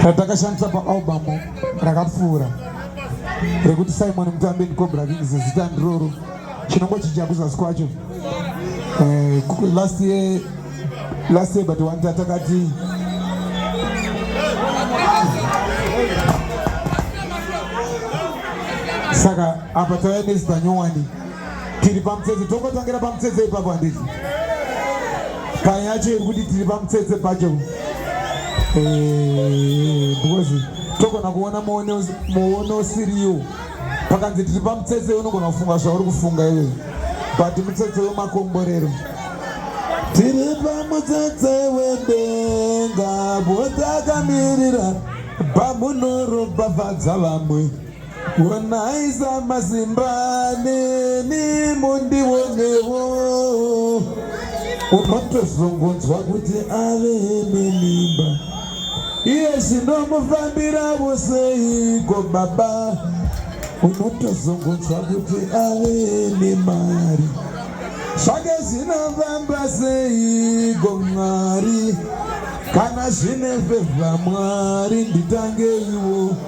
ratakashandisa paalbamu rakapfuura rekuti simon mutambi and cobra kings zita ndiroro chinongochinja kuzasi kwacho eh, last year last year but one tatakati saka apa tava nezita nyowani tiri pamutsetse tongotangira pamutsetse ipapo handiti paya yacho iri kuti tiri pamutsetse pacho eh, because togona kuona muono usiriwo pakanzi tiri pamutsetse unogona kufunga zvauri kufunga iwe but mutsetse wemakomborero tiri pamutsetse wedenga botakamirira bamunorombavadza vamwe Wanaiza mazimbane ni mundi wonewo unotozongonzwa kuti ave nemimba iye zvinomufambira voseiko baba unotozongonzwa kuti ave nemari zvake zvinofamba seiko mwari kana zvine fevha mwari nditangeiwo